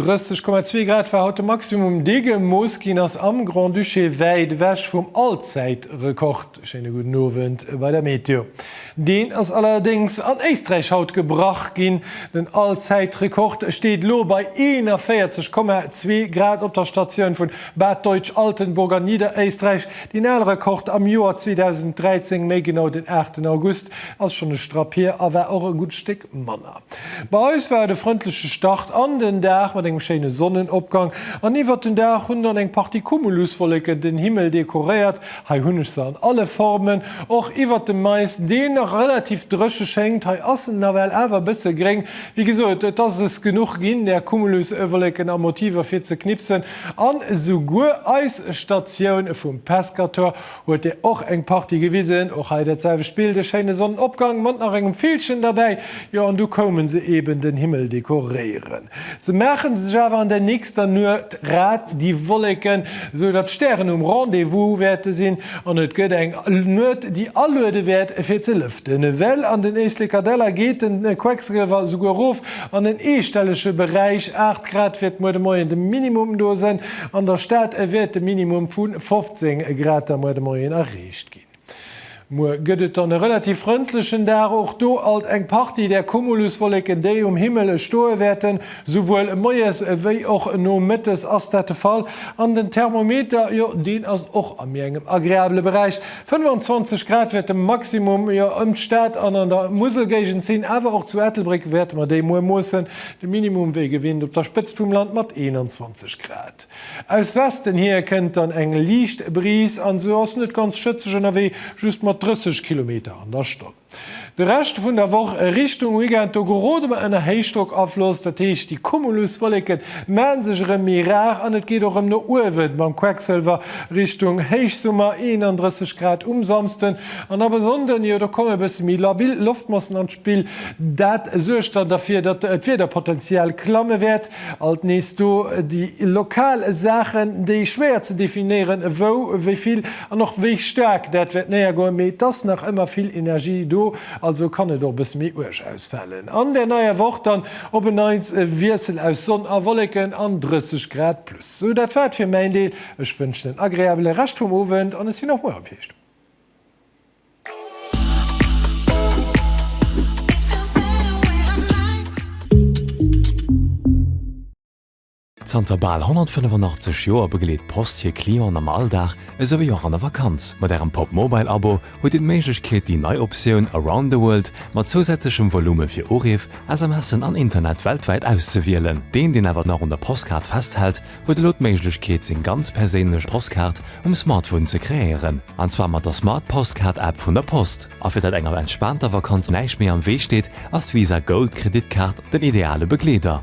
30,2 Grad war haut de Maximum, dee gemooss ginn ass am Grand-Duché, wäit ewech vum Allzäitrekord. Schéine gudden Owend bei der Meteo. Deen ass allerdéngs an Éisträich haut gebrach ginn. Den Allzäitrekord steet elo bei 41,2 Grad op der Statioun vun Bad Deutsch-Altenburg an Niederéisträich. Deen ale Rekord am Joer 2013, méi genau den 8 August, ass schonn e Strapp hier a war och e gutt Stéck manner. Bei eis war et e frëndleche Start an den Dag mat engem schéine Sonnenopgang an iwwert den Dag hunn dann eng Partie Cumuluswolleken den Himmel dekoréiert Hei hunn ech se an alle Formen, och iwwert dem Mais, deen nach relativ dréche schéngt. Hei ass en nawell awer e bësse gréng. Wéi gesot, et ass es genuch ginn, där Cumuluswollécken a Motiver fir ze knipsen. An esouguer eis Statioun vum Pescator huet der och eng Partie gewisen. Och hei dat selwecht Bild, e schéine Sonnenopgang mat nach engem Villchen derbäi, jo, an du koume se eben den Himmel dekoréiere. Se maachen sech awer an der nächster Nuecht rat, déi Wolleken, esou datt d'Stären um Rendez-vous wäerte sinn an et gëtt eng Nuecht, déi aluede wäert fir ze lëften. Well an den Éisleker Däller geet den Quecksliwer esouguer erof an en eestellege Beräich, 8 Grad wäert muer de Moien de Minimum do sënn. An der Stad wäert de Minimum vu 15 Grad da muer de Moien erreecht ginn. Muer gëtt et dann e relativ frëndlechen Dag, och do alt eng Partie där Cumuluswolleken, déi um Himmel stoe wäerten. Souwuel moies ewéi och nomëttes ass dat de Fall. An den Thermometer, jo, deen ass och a méi engem agreabele Beräich. 25 Grad wäert de Maximum, jo, ëm d'Stad an an der Muselgéigend sinn. Awer och zu Ettelbréck wäerte mer déi muer moossen. De Minimum wéi gewinnt op der Spëtzt vum Land mat 21 Grad. Aus Westen hier kënnt dann eng liicht Brise an esou ass net ganz schëtzeg ënnerwee, just mat 30 Kilometer an der Stonn. De Rescht vun der Woch Richtung Weekend, do gerode mer ënner Héichdrockafloss, dat heescht déi Cumuluswolleken maan sech erëm méi rar an et geet och erëm no uewen mam Quecksëlwer Richtung Héichsummer, 31 Grad um Samsden an ab e Sonnden, jo do komme bësse méi labil Loftmassen an d'Spill, dat suergt dann derfir, datt d'Wiederpotenzial klamme wäert. Alt nees do déi lokal Saachen, déi schwéier ze definéieren, wou, wéi vill an och wéi staark dat wäert néiergoen, mee et ass nach ëmmer vill Energie do, also kann et och e bësse méi uerg ausfalen. An der neier Woch dann op en Neits e Wiessel aus Sonn a Wolleken an 30 Grad plus. Sou, dat war et fir mäin Deel. Ech wënschen en agreabele Rescht vum Owend an ech sinn och muer erëm fir Iech do. Zanter bal 185 Joer begleet d'Post hir Clienten am Alldag esouwéi och an der Vakanz. Mat Ärem Pop Mobile Abo hutt Dir d'Méiglechkeet, déi nei Optioun Around the World mat zousätzlechem Volume fir Uriff, SMSen an Internet weltwäit auszewielen. Deen, deen awer nach un der Postkaart festhält, huet elo d'Méiglechkeet seng ganz perséinlech Postkaart um Smartphone ze kreéieren, an zwar mat der Smart Postcard App vun der Post. A fir datt enger entspaanter Vakanz näischt méi am Wee steet, ass d'Visa Gold Kreditkaart den ideale Begleeder.